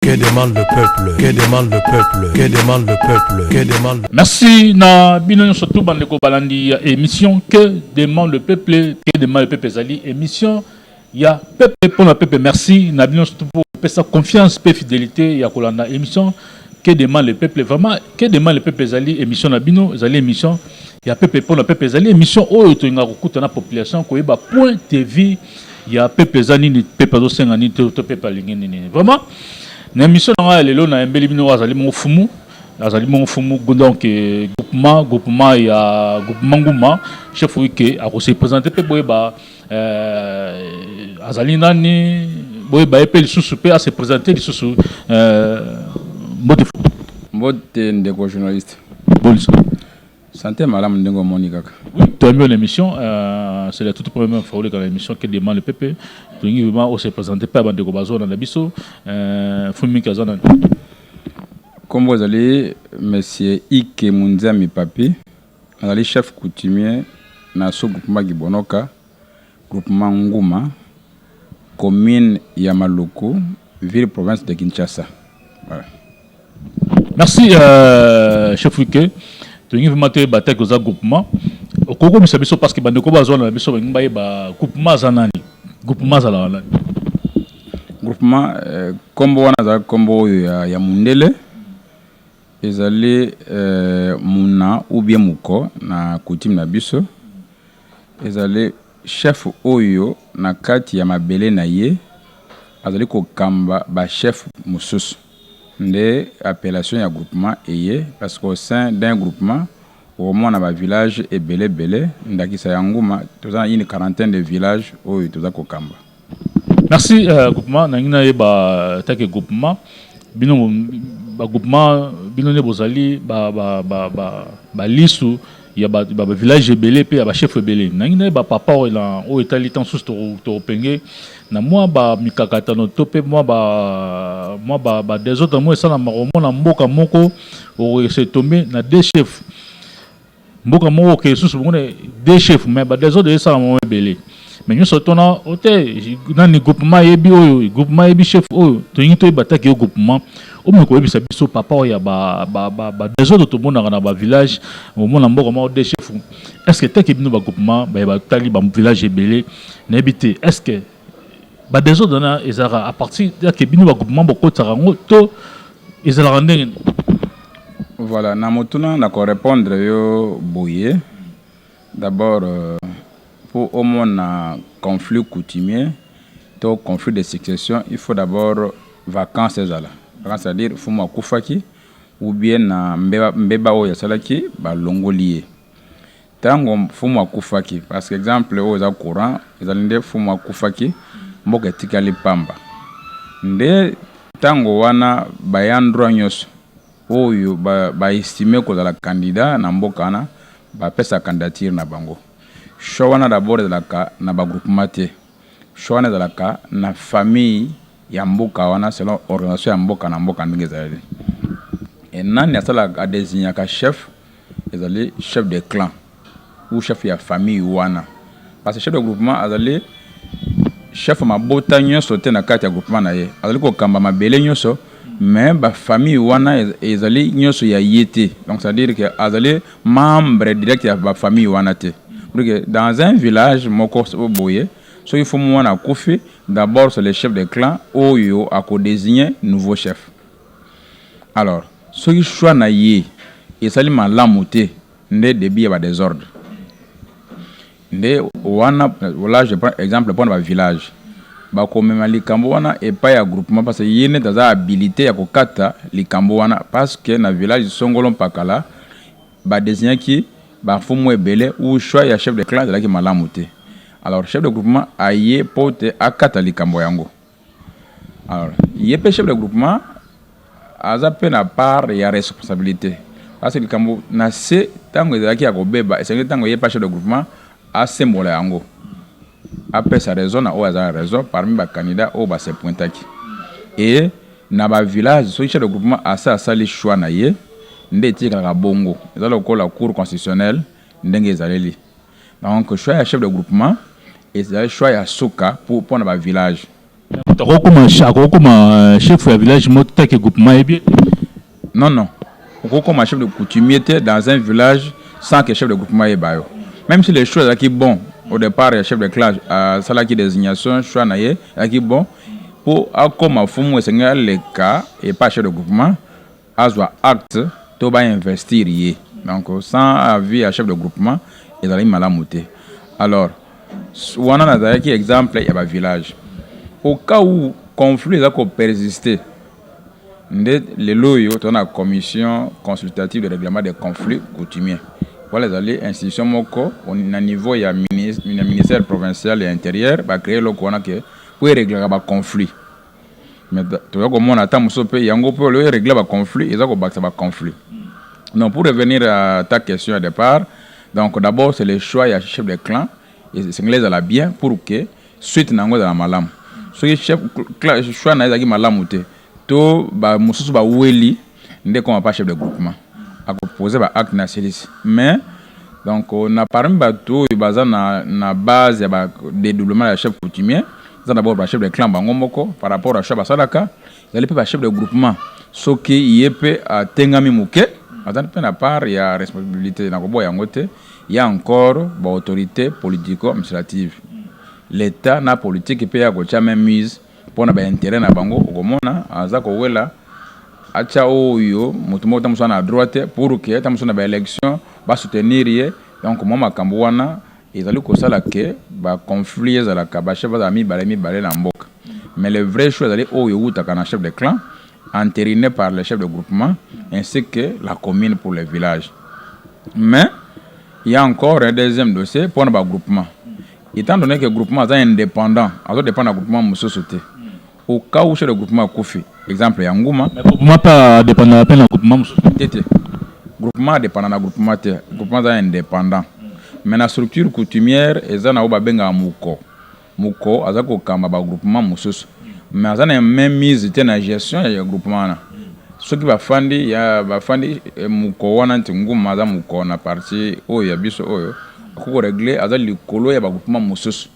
Que demande le peuple Que demande le peuple Que demande le peuple Que demande Merci na bino nyonso tout bande ko balandi ya émission Que demande le peuple Que demande le peuple ezali émission ya peuple pona peuple merci na bino nyonso tout pesa confiance pe fidélité ya kolanda émission Que demande le peuple vraiment Que demande le peuple ezali émission na bino ezali émission ya peuple pona peuple ezali émission oyo tolinga kokuta na population koyeba point de vie ya pepe eza nini pepe azosenga nini to, to pepe alingi nini vraiment na émission na ngai ya lelo nayembeli bino azali mongo fumu azali mongo fumu donc eh, groupement groupement ya groupement nguma chef wike akose présente mpe boyeba eh, azali nani boyeba ye mpe lisusu mpe ase présente lisusu eh, mbote fumu mbote ndeko journaliste bolisa Sante malamu ndenge omoni kaka. Oui, tu as mis une émission, euh, c'est la toute première fois que l'émission qui demande le PP. Tu dis vraiment, on se présente pas avant de commencer dans la biso. Euh, Fumi Kazana. Kombo azali monsieur Ike Munzami Papi, azali chef coutumier na sous-groupement Gibonoka. Groupement Nguma, commune ya Maluku, ville province de Kinshasa. Voilà. Merci euh, chef Wike. Tolingi vraiment te ba attaque oza groupement. Okoko bisa biso parce que bande ko bazo na biso bangi baye ba groupement za nani? Groupement za la nani? Groupement euh, kombo wana za kombo oyo ya, ya mundele ezali euh, muna ou bien muko na coutume na biso. Ezali chef oyo na kati ya mabele na ye azali kokamba ba chef mosusu nde appellation ya groupement eye parce qu'au sein d'un groupement okomona ba villages ebele ebele ndakisa ya Nguma toza na une quarantaine de villages oyo toza kokamba. Merci euh, groupement nangi nayeba take groupement bino ba groupement bino nde bozali ba ba ba ba, ba lisu ya ba, ba, ba village ebele pe ya ba chef ebele nangi nayeba papa oyo na oyo etali temps susu tokopenge na mwa ba mikakatano to pe mwa ba mwa ba, ba desordre mwa esalamaka omona mboka moko okoki se tombe na deux chefs Mboka moko oke lisusu bomona deux chefs mais ba desordre esalama mwa ebele mais nyonso tona ote nani groupement ayebi oyo groupement ayebi chef oyo tolingi toyeba ataki yo groupement omoki koyebisa biso papa oyo ya ba, ba, ba, ba desordre tomonaka na ba village omona mboka moko deux chefs est ce que taki bino ba groupement baye batali ba village ebele nayebi te est ce que Ba desordre wana ezalaka à partir ya ke bino ba groupement bokotisaka yango to ezalaka ndenge nini? Voilà, na motuna na ko repondre yo boye, d'abord po omona conflit coutumier to conflit de succession il faut d'abord vacance ezala, vacance c'est à dire fumu akufaki ou bien na mbeba mbeba oyo asalaki balongoli ye. Tango fumu akufaki parce que exemple oyo eza courant ezali nde fumu akufaki mboka etikali pamba nde tango wana bayant droit nyoso oyo ba estime kozala candidat na mboka wana ba pesa candidature na bango choix wana d'abord ezalaka na ba groupement te choix wana ezalaka na famille ya mboka wana selon organisation ya mboka na mboka ndenge ezali e nani asalaka adesignaka chef ezali chef de clan ou chef ya famille wana parce que chef de groupement azali chef mabota nyonso te na kati ya groupement na ye azali kokamba mabele nyonso mais bafamille wana ezali nyonso ya ye te donc c'est-à-dire que azali membre direct ya bafamille wana te donc dans un village moko boye soki fo mwana akufi D'abord c'est le chef de clan oyo ako designer nouveau chef. Alors soki choix na ye esali malamu te nde debut ya ba desordre. Nde wana là je prends exemple pona ba village bako mema likambo wana epai ya groupement parce que ye neti aza habilite ya ko kata likambo wana parce que na village songolo mpakala Ba designaki ba mfumu ebele ou choix ya chef de clan ezalaki malamu te. Alors chef de groupement aye po te akata likambo yango. Alors ye pe chef de groupement aza pe na part ya responsabilite parce que likambo na se tango ezalaki ya kobeba esengeli tango ye pa chef de groupement asembola yango. apesa raison na oyo aza na raison parmi ba candidats oyo ba se pointaki et na ba villages soki chef de groupement asi asali choix na ye nde etikalaka bongo eza lokola cour constitutionnelle ndenge ezaleli donc choix ya chef de groupement ezali choix ya suka mpo na ba villages. Mais moto akoki kokoma akoki kokoma chef ya village moko tant que groupement ayebi ye te? Non non, okoki kokoma chef de coutumier te dans un village sans que chef de groupement ayeba yo. Meme si le choix ezalaki bon au depart ya chef de clan asalaki designation choix na ye ezalaki bon, mpo akoma fumu esengeli aleka epai ya chef de groupement, azwa acte to ba investir ye donc sans avis ya chef de groupement ezalaki malamu te alors wana nazalaki exemple ya ba village au cas où conflit eza ko persister nde lelo oyo toza na commission consultative de règlement des conflits coutumiers wana ezali institution moko na niveau ya ministère provincial ya interieur ba créer eloko wana ke po ereglaka ba conflit mais toza komona ata mosusu mpe yango mpe olio eregle ba conflit eza kobakisa ba conflit donc pour revenir à ta question ya départ donc d'abord c'est le choix ya chef de clan esengeli ezala bien pour que suite na yango ezala malamu soki chef choix na ye ezalaki malamu te to bamosusu baweli Nde comme apa chef de groupement ako poser ba actes na asilisi mais donc na parmi batu oyo baza na na base ya ba dedoublement ya chef coutumier eza d'abord ba chef de clan bango moko par rapport à choix basalaka ezali pe ba chef de groupement soki ye pe atengami muke aza pe na part ya responsabilite na koboya yango te ya encore ba autorites politico administratives l'etat na politique pe ya kotia main mise pona ba interet na bango okomona aza kowela atia oyo mutu moko ta musa na droite pour que ta musa na ba election ba soutenir ye donc mua makambo wana ezali kosala que ba conflit ezalaka ba chef bazala mibale mibale na mboka mais le vrai choix ezali oyo ewutaka na chef de clan enterine par le chef de groupement ainsi que la commune pour le village mais ya encore un deuxième dossier pona ba groupement Etant donne que groupement aza independant, azo dependre na groupement mususu te. Au cas où chez le groupement akufi, exemple ya Nguma. Mais groupement pa dependre pe na groupement mususu. Te te. Groupement dependre na groupement te. Groupement aza independant. Mais na structure coutumière eza na oyo babenga muko. Muko aza kokamba ba groupement mususu. Mais aza na même mise te na gestion ya groupement wana. Soki bafandi ya bafandi muko wana nti Nguma aza muko na partie oyo ya biso oyo. Akoki ko regler aza likolo ya ba groupement mususu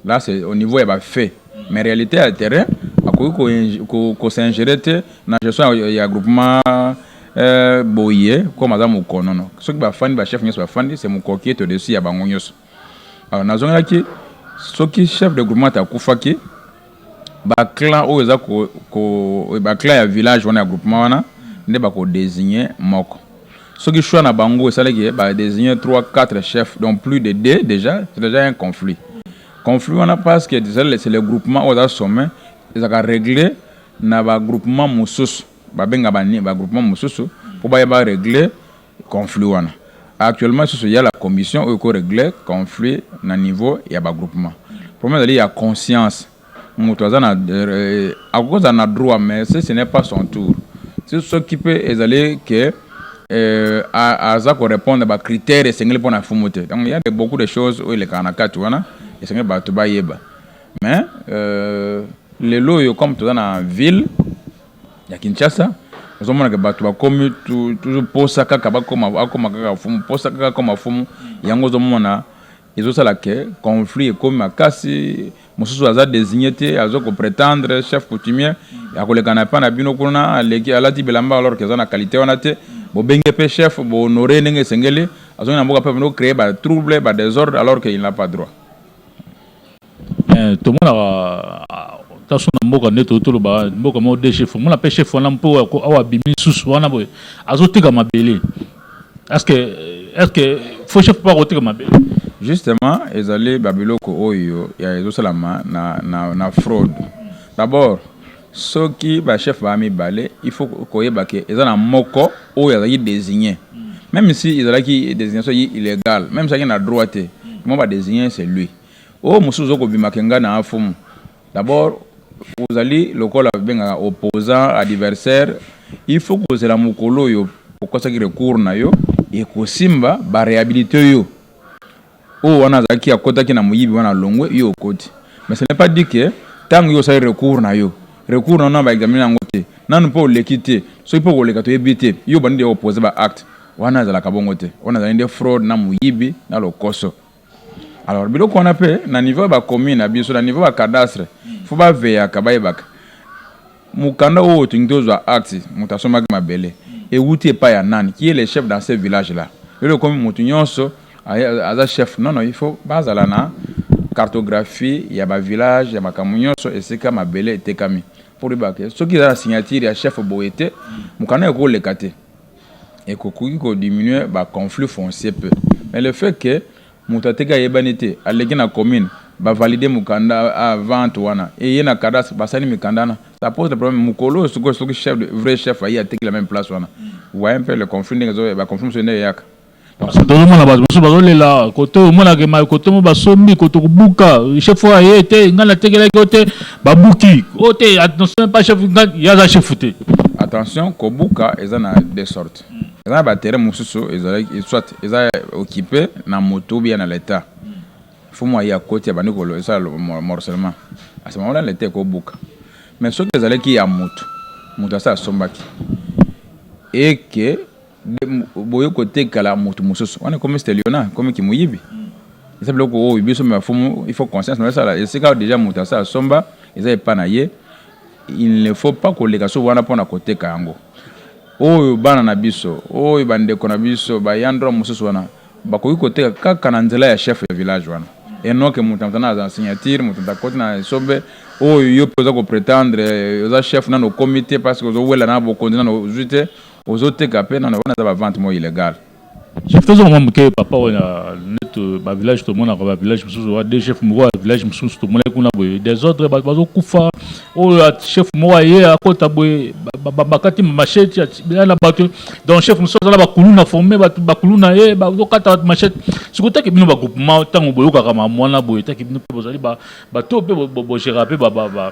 là c'est au niveau ya ba faits mais realite ya terrain akoki ko s'ingerer te na gestion ya groupement euh, boye comme aza mokonono soki bafandi ba chef nyonso bafandi c'est mokoki est au-dessus ya bango nyonso alors nazongelaki soki chef de groupement akufaki ba clan oyo eza ko, ko ba clan ya village wana ya groupement wana nde ba ko designer moko soki choix na bango esali que ba designer 3 4 chefs donc plus de deux déjà c'est déjà un conflit conflit wana parce que déjà c'est le groupement oyo aza sommet ezaka régler na ba groupement mosusu ba benga ba ba groupement mosusu pour ba ya ba régler conflit wana actuellement lisusu ya la commission oyo ko regler conflit na niveau ya ba groupement problème ezali ya conscience moto aza na euh, akozala na droit mais ce ce n'est pas son tour soki mpe ezali ke euh, aza ko répondre ba critères esengeli mpo na fumu te donc il y a de beaucoup de choses oyo elekaka na kati wana esengeli bato bayeba mais euh, lelo oyo comme toza na ville ya Kinshasa ozomona ke bato bakomi toujours posa kaka bakoma akoma kaka fumu posa kaka akoma fumu yango ozomona ezosala ke conflit ekomi makasi mosusu aza désigné te azo ko prétendre chef coutumier akoleka na epa na bino kuna aleki alati bilamba alors ke aza na qualité wana te bobenge mpe chef bohonore ndenge esengeli azongi na mboka mpe bino créer ba trouble ba désordre alors ke il n'a pas droit Eh, tomonaka taso na mboka nde toyo toloba mboka moko de chef omona mpe chef wana mpo awa abimi lisusu wana boye azoteka mabele est ce que est ce que fo chef mpo akoteka mabele justement ezali babiloko oyo ya ezosalama na, na, na fraude d'abord soki bachef baa mibale il faut koyeba ke eza na moko oyo azalaki désigné même si ezalaki désignation illégale même soki na droit te mwa badésigné c'est lui Oyo mosusu oko bima ke nga na afumu d'abord ozali lokola babengaka opposant adversaire il faut kozela mokolo oyo okosaki recours na yo ekosimba ba rehabiliter yo oyo wana azalaki akotaki na moyibi wana alongwe yo okoti mais ce n'est pas dit que tango yo osali recours na yo recours na yo na ba examiner yango te nanu mpe oleki te soki mpe okoleka toyebi te yo obandi deja kopose ba acte wana ezalaka bongo te wana ezali nde fraude na moyibi na lokoso Alors biloko wana pe na niveau ya ba commune na biso na niveau ya cadastre faut ba veyaka bayebaka mukanda oyo otingi tozwa acte moto asombaki mabele ewuti epai ya nani qui est le chef dans ce village là lelo ekomi moto nyonso aza chef non non il faut bazala na cartographie ya ba village ya makambo nyonso esika mabele etekami pour yebaka soki eza na signature ya chef boye te mukanda ekoleka te ekokoki ko diminuer ba conflits fonciers peu mais le fait que mutu ateki ayebani te aleki na commune ba valider mukanda a vente wana eye na cadastre basali mikanda wana ça pose le problème mukolo oyo sikoyo soki chef de vrai chef aye ateki la meme place wana vous voyez un peu le conflit ndenge ezo ba conflits mosusu ndenge eyaka. Parce que mona bato mosusu bazolela koto omona ke mai kotomo basombi koto kobuka chef oyo aye te ngai natekelaki yo te babuki o oh, te attention pas chef ngai yaza chef te attention kobuka eza na de sorte eza na baterrain mosusu ezalaki soit eza occupé na moto bia na leta fo mwa ye akoti abandi kolo esala morcellement asema wana leta ekobuka mais soki ezalaki ya moto moto asi asombaki eke Be boye kotekala mutu mususu wana ekomi steliona ekomi kimuyibi eza biloko oyo biso me bafumu il faut conscience na esala esika deja mutu asa asomba eza epa na ye il ne faut pas koleka so wana mpona koteka yango oyo bana na biso oyo bandeko na biso bayandroa mosusu wana bakoki koteka kaka na nzela ya chef ya village wana enoke moto na moto na aza signature moto moto akoti na esobe oyo yo mpe oza kopretendre oza chef nano okomi te parce que ozowela na bokonzi nano ozwi te ozo teka pe nanu wana eza ba vente moko illegal. Chef tozonga mwa muke papa oyo net ba village tomonaka ba village mususu ba deux chef moko ya village mususu tomonaki kuna boye desordre batu bazo kufa oyo chef moko aye akota boye bakati machete ya na batu donc chef mususu aza na ba kuluna forme batu ba kuluna ye bazo kata batu machete siko taki bino ba groupement tango boyokaka ma mwana boye taki bino pe bozali ba bato pe bo gera pe ba ba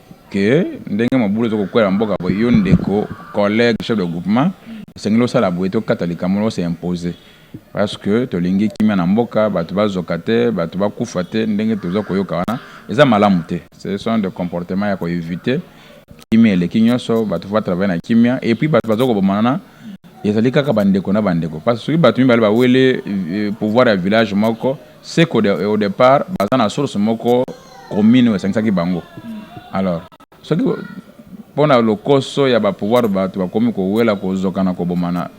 que ndenge mobulu ezo kokwela na mboka boye yo ndeko collegue chef de groupement esengeli osala boye tokata likambo wana ose imposer parce que tolingi kimia na mboka bato bazoka te bato bakufa te ndenge toza koyoka wana eza malamu te ce sont de comportement ya ko eviter kimia eleki nyonso bato va travailler na kimia et puis bato bazo kobomana ezali kaka bandeko na bandeko parce que soki bato mibale bawele euh, pouvoir ya village moko ce qu'au de, au départ baza na source moko commune oyo esangisaki bango alors soki mpo na lokoso ya bapouvoir bato bakomi kowela kozokana kobomana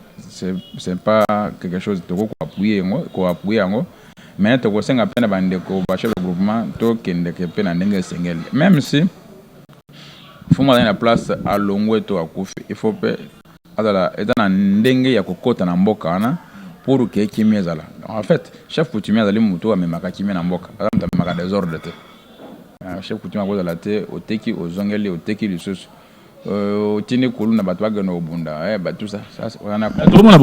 c'est pas quelque chose tokoki koappuye yango koappuye yango mais tokosenga mpe na bandeko bachef de groupement tokendeke mpe na ndenge esengeli même si mfumu azali na place alongwe to akufi il faut mpe azala eza na ndenge ya kokota na mboka wana pour que kimia ezala en fait chef coutumier azali moto amemaka kimia na mboka aza moto amemaka desordre te euh, chef coutumier akozala te oteki ozongeli oteki lisusu euh, otindi kulu na bato bakende kobunda eh, batusa tokomona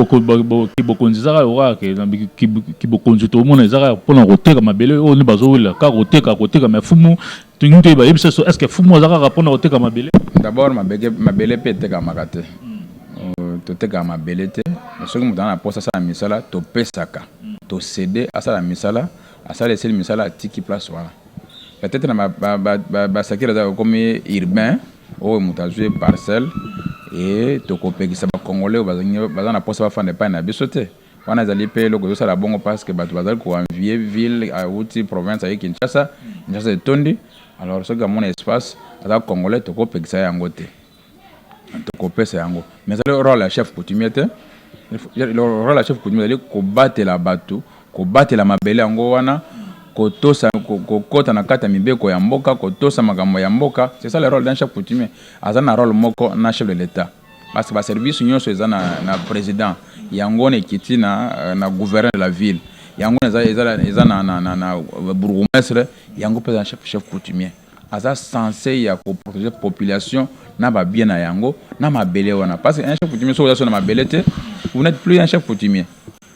kibokonzi ezaka yoka kibokonzi tokomona ezaka mpona koteka mabele oyo nde bazowelela kaka koteka koteka mafumu Tolingi toyeba yebisa so est-ce que fumu aza kaka pona koteka mabele? D'abord mabeke mabele pe etekamaka te. Euh, totekaka mabele te mais soki moto ana mposa asala misala topesaka tosede asala misala asala esili misala atiki place wana peut-être na basakeli aza kokomi urbain oyo moto azwi parcelle e tokopekisa bacongolais oyo baza na mposa bafanda epai na biso te Wana ezali pe eloko ezo sala bongo parce que batu bazali ko envier ville awuti province aye Kinshasa, Kinshasa etondi alors soki amona espace aza congolais toko pekisa ye yango te. Toko pesa yango mais ezali role ya chef coutumier te. Role ya chef coutumier ezali ko batela batu, ko batela mabele yango wana kotosa kokota na kati ya mibeko ya mboka kotosa makambo ya mboka c'est ça le role d'un chef coutumier aza na role moko na chef de l'etat Parce que ba service nyoso eza na, na president yango na ekiti na, euh, na gouverneur de la ville yango eza, eza, eza na, na, na, na euh, bourgmestre yango mpe eza chef, chef coutumier aza sense ya koprotege population na babie na yango na mabele wana parce que un chef coutumier soki oza so na mabele te vous n'êtes plus un chef coutumier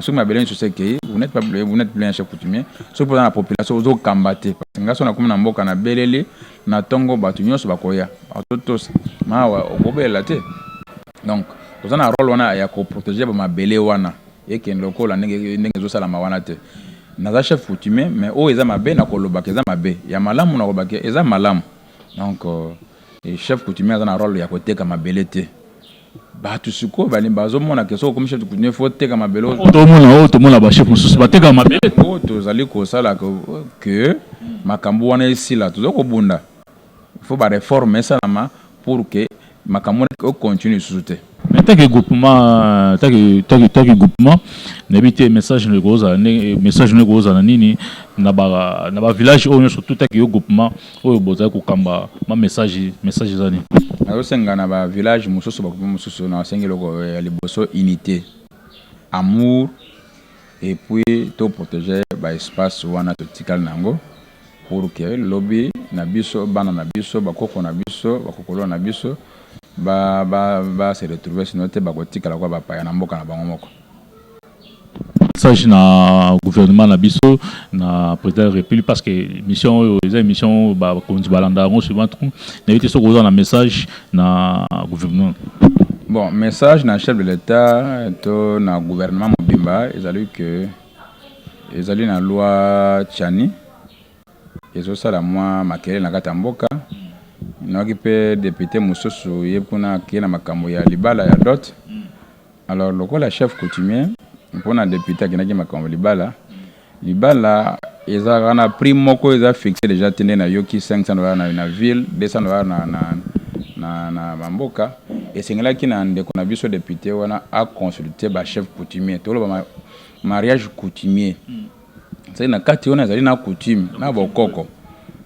soki mabele nyonso se ekei vous n'êtes pas vous n'êtes plus un chef coutumier soki mpoza na population ozokamba te parce nga so nakomi na mboka na beleli na ntongo bato nyonso bakoya bazotosa mawa okobelela te donc oza na role wana ya koprotege bamabele wana ekende lokola ndenge ndenge ezosalama wana te naza chef coutumier mais oyo eza mabe nakolobaka eza mabe ya malamu nakolobaka eza malamu donc euh, chef coutumier aza na role ya koteka mabele te bato sikoyo balingi bazomona ke soki okomisa kutu ne faut teka mabele oyo tomona oyo tomona ba chef mosusu bateka mabele oyo tozali kosala ke makambo wana esila tozali kobunda faut ba reforme esalama pour que makambo wana econtinue lisusu te mais taki groupement taki taki taki groupement nayebi te message na ekozala ndenge message na ekozala nini na ba na ba village oyo nyonso tout taki yo groupement Oyo bozali kokamba ma message message eza nini? Nazo senga na ba village mususu ba groupe mususu na sengi eloko ya liboso unite amour epuis to protege ba espace wana to tikali na yango pour que lobi na biso bana na biso ba koko na biso ba kokolo na biso ba ba ba se retrouver sino te ba kotikala kwa ba paya na mboka na bango moko. message na gouvernement na biso na président ya république parce que mission oyo eza émission bakonzi balanda yango souvent trop nayebi te soki oza na message na gouvernement bon message na chef de l'état to na gouvernement mobimba ezali que ezali na loi chani ezosala mwa makelele na kati ya mboka nayaki mpe depute mosusu ye kuna akei na makambo ya libala ya dote Alors lokola chef coutumier pona depute akendaki makambo libala libala ezalaka na prix moko eza fixe deja te nde nayoki 500 dollars na, na ville 200 dollars na, na, na, na bamboka esengelaki na ndeko na biso depute wana aconsulte bachef coutumier toloba mariage coutumier mm. sali na kati wana ezali na coutume na bokoko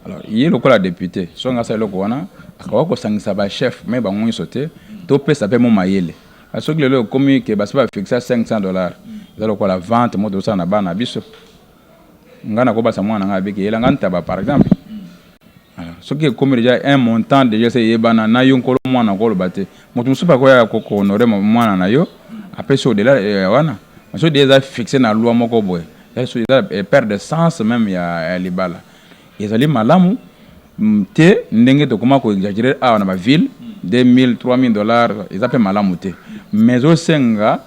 alors ye lokola depute songa asala eloko wana akoka kosangisa bachef mai bango nyonso te topesa mpe mo mayele Ah, soki lelo ekomi ke basi bafixa 500 dollars eza lokola vente moto osala na bana biso ngai nakobasa mwana ngai abiki yela ngai ntaba par exemple alors soki ekomi deja un montant deja se eyebana na yo nkolo mwana okoloba te moto mosusu mpe akoya kohonore mwana na yo apesi odela eh, wana soki deja eza fixe na loi moko boye eza eh, perte de sens meme ya libala Ezali malamu te ndenge tokoma ko exagerer awa na ba ville 2000 3000 dollars eza pe malamu te mais ezosenga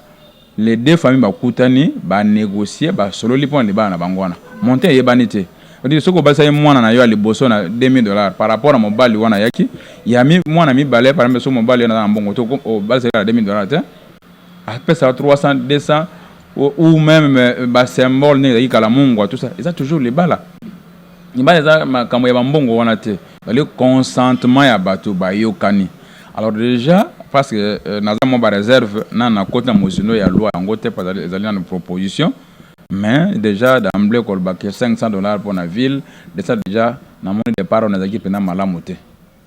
les deux familles bakutani ba negocier ba sololi pona libala na bango wana montant eyebani te Odi soki obalisaki mwana na yo ya liboso na 2000 dollars par rapport na mobali wana ayaki ya mi mwana mibale par exemple soki mobali wana aza na mbongo to obalisaki na 2000 dollars te apesa 300 200 ou meme euh, ba symbole ndenge ezalaki kala mungwa tout ça eza toujours libala libala eza makambo ya bambongo wana te ezali consentement ya bato bayokani alors déjà parce que euh, naza mwa bareserve na nakoti na mozindo ya loi yango te ezali nano proposition mais déjà d'emblé kolobaka 500 dollars mpo na ville desa déjà namoni depart wana ezalaki mpenza malamu te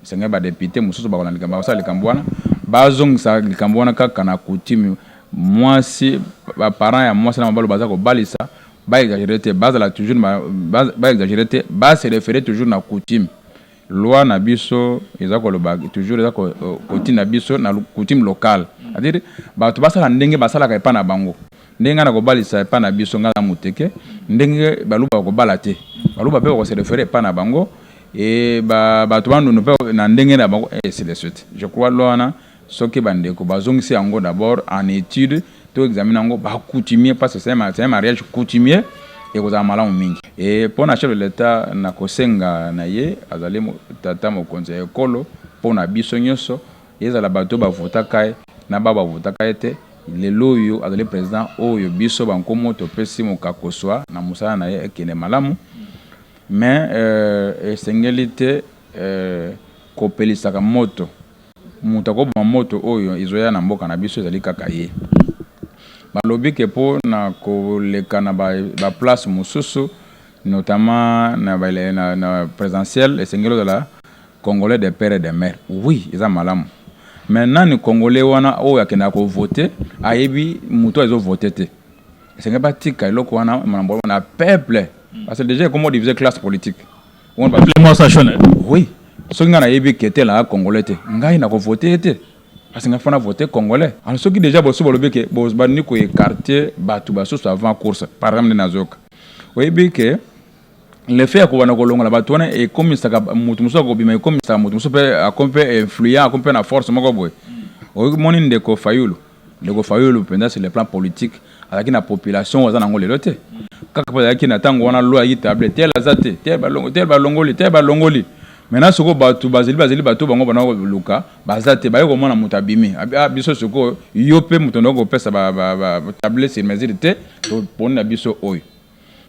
Esengeli ba deputes mosusu bakolanda likambo basala likambo wana bazongisa likambo wana kaka na coutume mwasi ba parents ya mwasi na mabalo baza kobalisa ba exagere te bazala toujours na ba, ba exagere te ba se referer toujours na coutume loi na biso eza koloba toujours eza kotinda biso na coutume locale c'est-à-dire bato basala ndenge basalaka epa na bango Ndenge nga nako balisa epa na biso nga na muteke ndenge baluba bako bala te baluba pe bako se referer epa na bango et ba batu bandundu pe na ndenge na bango et ainsi de suite je crois loana soki ba ndeko ba zongisi yango d'abord en etude to examiner yango ba coutumier parce que c'est un mariage coutumier ekozala malamu mingi et pona chef de l'etat na kosenga na ye azali tata mokonzi ya ekolo pona biso nyoso Ezala bato oyo ba votaka ye na baoyo ba votaka ye te, lelo oyo azali president oyo biso ba nkomo topesi mokako swa na mosala na ye ekende malamu. Mais esengeli te kopelisaka moto. Moto akoboma moto oyo ezoya na mboka na biso ezali kaka ye. Balobi que mpo na koleka na ba places mosusu notamment na ba presidentielles esengeli ozala Congolais de père et de mère oui eza malamu mais nani congolais wana oyo akendaka ko vote ayebi mutu azo vote te esenge batika eloko wana malambo wana peuple parce que déjà ekomo diviser classe politique oui soki ngai nayebi kete na congolais te ngai nako vote ye te parce ngai fana vote congolais alors soki déjà bosu bolobi ke bozbandi ko écarter bato basusu avant course par exemple nde nazoyoka oyebi ke le fait ya kobanda kolongola bato wana ekomisaka moto mosusu akobima ekomisaka moto mosusu mpe akomi mpe influent akomi mpe na force moko boye oyoki moni ndeko fayulu ndeko fayulu mpenza sur le plan politique azalaki na population oyo aza nango lelo te kaka mpe azalaki na ntango wana lo ayaki table tel aza te tel balongoli tel balongoli maintenant sikoyo bato bazali bazali bato bango bana koluka baza te baye komona moto abimi ah, biso sikoyo yo mpe moto ndoki kopesa table sur mesure te toponi na biso oyo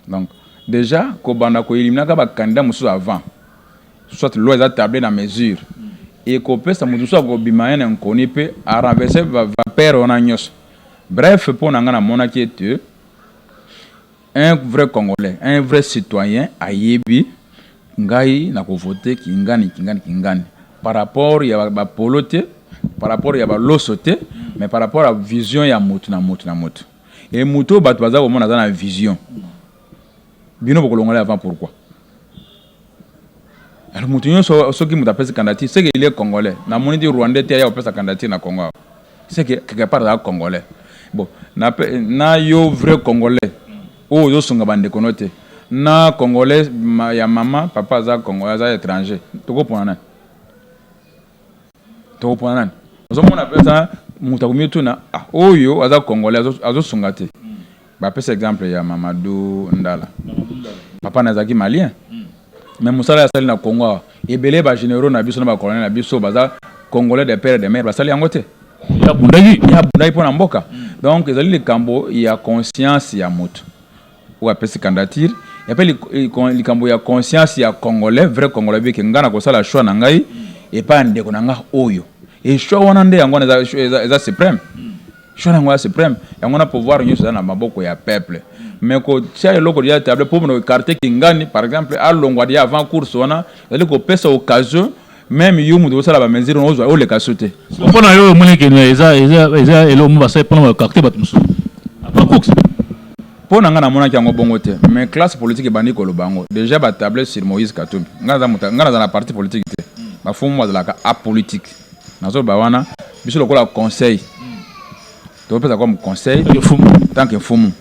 donc dejà kobanda ko eliminaka ba candidats mosusu avant soit loi eza table na mesure ekopesa moto mosusu akobima ye na nkoni mpe arenverse vapeur wana nyonso bref mpo na ngai namonaki ete un vrai congolais un vrai citoyen ayebi ngai nakovote kingani kingani kingani par rapport ya bapolo te par rapport ya baloso te mais par rapport ya vision ya motu na motu na motu e moto oyo bato baza komona aza na vision bino bokolongola avant pourquoi alors moto nyonso soki moto apesi candidature seke il est congolais namoni ti rwandais te aya kopesa candidature na congo awa seke quelque part aza congolais bon na, na yo vrai congolais oyo ozosunga bandeko no te na congolais ya mama papa aza congolais aza étranger tokopona nani tokopona nani ozomona mpenza moto akomi otuna ah, oyo aza congolais azosunga te mm. bapesa exemple ya mamadu ndala papa na azalaki malien mm. mais mosala asali na congo awa ebele bagénéraux na biso na bacolonel na biso baza congolais de père de mare basali yango te abundaki mpo na mboka mm. donc ezali likambo ya conscience ya moto oyo apesi candidature epe likambo ya conscience ya congolais vrai congolais beke nga na kosala choix na ngai epa ya ndeko na nga oyo e choix wana nde yango wana eza, eza supreme choix na yango ya supreme yango wana pouvoir nyonso eza na maboko ya peuple mais kotia eloko ya table mpo na ekarte kingani par exemple alongwa dia avant course wana ezali kopesa occasion meme yo moto osala bamesure yango ozwa oleka so te mpo na yo omoni kene eza eza eloko mo basali mpona bakarte bato mosusu apacox mpo na ngai namonaki yango bongo te mais classe politique ebandi koloba yango déjà batable sur moïse katumbi ngai naza na parti politique te bafumu bazalaka apolitique nazoloba wana biso lokola conseil topesa comme conseil tant que mfumu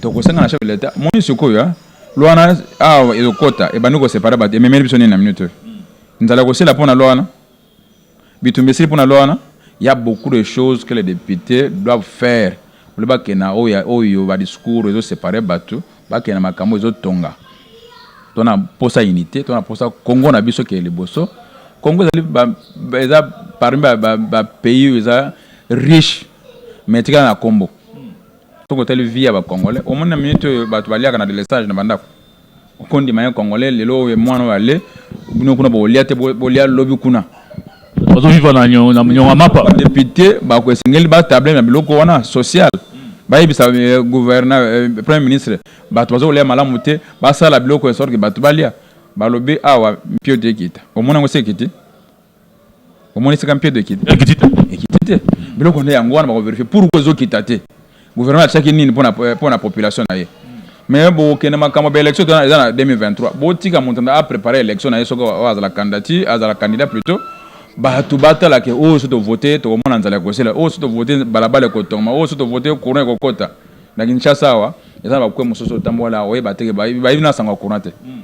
tokosenga na chef de l'état moni sikoyo Luana awa ezokota ebandi ko separe bato ememeli biso nini na minute oyo? Nzala ekosila mpo na Luana? Bitumba esili mpo na Luana? Ya beaucoup de choses que les deputes doivent faire ole bakende na oyo ya oyo ba discours ezo separe bato bakende na makambo ezo tonga to na posa unité to na posa Congo na biso ke liboso Congo ezali ba, eza parmi ba, ba, ba pays eza riche mais etikala na kombo Soki otali vie ya ba congolais, omoni na minute oyo bato baliaka na delestage na bandako. Okondima ye congolais lelo oyo mwana oyo ale bino kuna bokolia te bolia lobi kuna. Bazo vivre na nyo na nyonga mapa. Ba deputes bako esengeli ba table na biloko wana social. Bayebisa gouverneur premier ministre bato bazo kolia malamu te basala biloko ya sorte que bato balia. Balobi awa mpio te ekita. Omoni yango esi ekiti? omoni sika mpiedo ekiti ekiti te biloko nde yango wana bakoverifie pourkoi ezokita te gouvernement atiaki nini mpo euh, na population na ye mais bokende makambo ba élection tona eza na 2023 botika moto na aprépare élection na ye soki oyo azala candidati azala candidat plutôt bato batala ke oyo oh, so tovote tokomona nzala ya kosela oyo oh, so tovote balabala ekotongama oyo oh, so tovote courant ekokota na kinshasa awa eza na bakwe mosusu otambola oyeba teke bayebi na sango ya courant te hmm.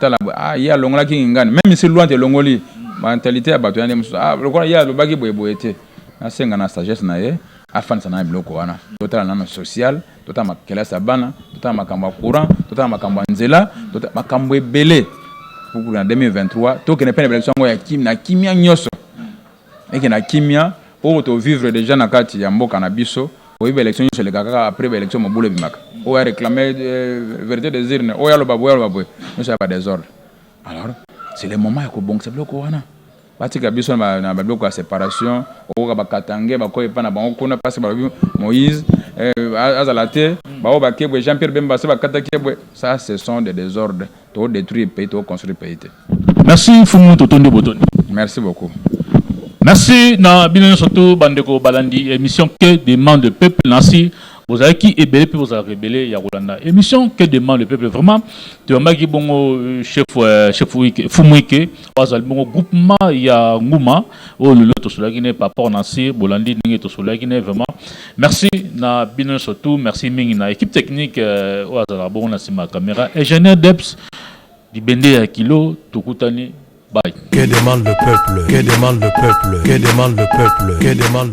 tala ah, ye alongolaki ngingani meme isi luante elongoli mentalite ya bato ya nde mosusu ah, lokola ye alobaki boyeboye te nasenga na sagesse na ye afandisa na biloko wana totala nano social totala makelasi ya bana totala makambo ya courant totala makambo ya nzela makambo ebele kukulu na 2023 tokende mpe na bilakiso yango na kimia nyonso Meke na kimia oyo to vivre deja na kati ya mboka na biso. Oyebi ba elections nionso elekaka kaka apres ba elections mobulu ebimaka. Oyo a reclame verite des urnes, oyo aloba boye, oyo aloba boye, nionso ya ba desordre. Alors c'est le moment ya kobongisa biloko wana. Batika biso na ba biloko ya separation, okoyoka ba katangais bakoya epai na bango kuna parce que balobi Moïse azala te, baoyo bake boye Jean Pierre Bemba base bakataki ye boye, ça ce sont des desordres. To detruire pays to construire pays te. Merci Fumu totondi botondi. Merci beaucoup. Merci na bino nyonso to bandeko balandi emission que demande le peuple nasi bozalaki ebele mpe bozalaka ebele ya kolanda émission que demande le peuple vraiment toyambaki bongo euh, chef euh, chef fumuike oyo azali bongo groupement ya nguma oyo lelo tosololaki na ye par rapport na se bolandi ndenge tosololaki na ye vraiment merci na bino nyonso tout merci mingi na équipe technique euh, oyo azalaka bongo na nsima ya caméra ingénieur deps libende ya kilo tokutani bye Que demande le peuple Que demande le peuple Que demande le peuple Que demande